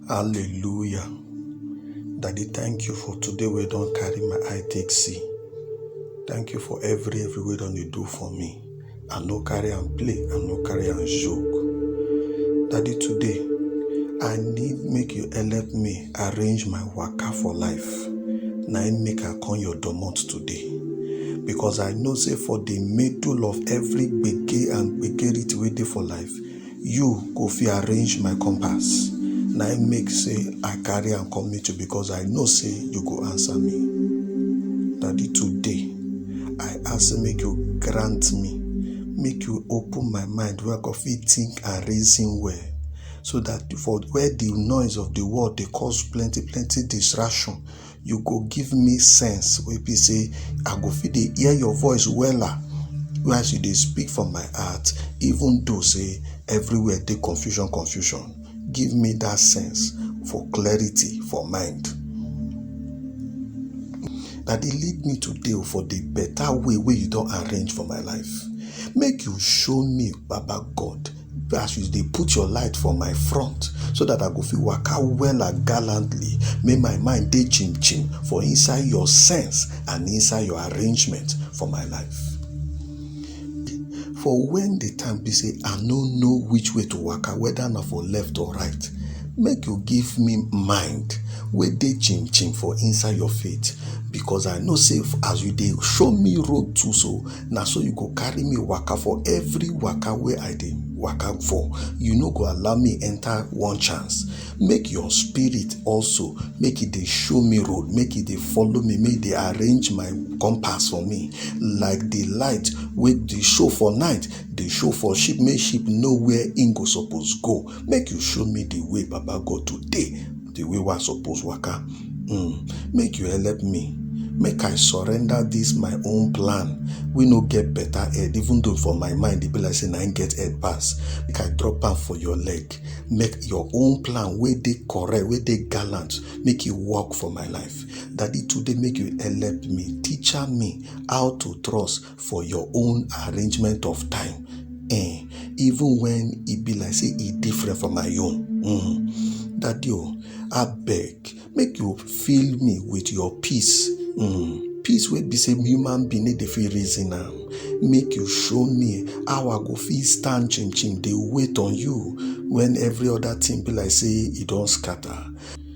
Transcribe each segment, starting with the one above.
Hallelujah. Daddy, thank you for today We don't carry my eye take see. Thank you for every every way don dey do for me. I no carry and play, I no carry and joke. Daddy, today I need make you help me arrange my waka for life. Na im make I come your domot today. Because I know say for the middle of every gbege and gbegerity wey dey for life, You go fit arrange my compass. Na im make say I carry am come meet you because I know say you go answer me. Daddy, today I ask say make you grant me, make you open my mind where I go fit think and reason well. So that for where the noise of the world dey cause plenty plenty distraction, you go give me sense wey be say i go fit dey hear your voice wella as you dey speak for my heart even though say everywhere dey confusion confusion give me that sense for clarity for mind that dey lead me today oh, for the better way wey you don arrange for my life make you show me baba god as you dey put your light for my front so that i go fit waka wella gallantly make my mind dey chim chim for inside your sense and inside your arrangement for my life for when the time be say i no know which way to waka whether na for left or right make you give me mind wey dey chim chim for inside your faith because i know say as you dey show me road too so na so you go carry me waka for every waka wey i dey waka for you no go allow me enter one chance make your spirit also make e dey show me road make e dey follow me make e dey arrange my compass for me like the light wey dey show for night dey show for sheep make sheep know where im go suppose go make you show me the way baba god today the way wey i suppose waka mm. make you help me make i surrender this my own plan wey no get better head even though for my mind e be like say na im get head pass make i drop am for your leg make your own plan wey dey correct wey dey gallant make e work for my life daddy today make you help me teacher me how to trust for your own arrangement of time eh, even when e be like say e different from my own mm. daddy o abeg make you fill me with your peace mm. peace wey be say human being no dey fit reason am make you show me how i go fit stand chim chim dey wait on you when every other thing be like say e don scatter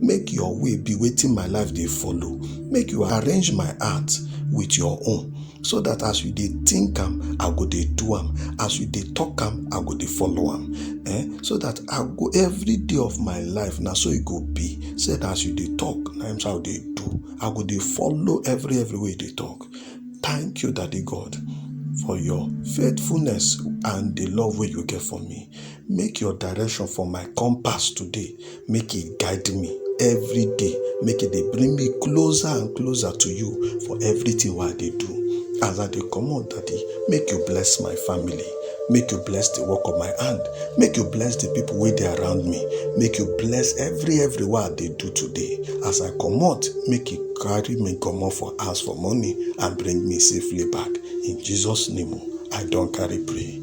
Make your way be wetin my life dey follow. Make you arrange my heart with your own. So that as you dey think am, I go dey do am. As you dey talk am, I go dey follow am. Eh? So that I go every day of my life, na so e go be. Say that as you dey talk, na him so I dey do. I go dey follow every every way you dey talk. Thank you, Daddy God, for your faithfulness and the love wey you get for me. Make your direction for my compass today, make e guide me every day, make e dey bring me closer and closer to you for everything wey I dey do. As I dey comot daddy, make you bless my family, make you bless the work of my hand, make you bless the people wey dey around me, make you bless every every wey I dey do today. As I comot, make you carry me comot for house for morning and bring me safely back. In Jesus name o, I don carry pray.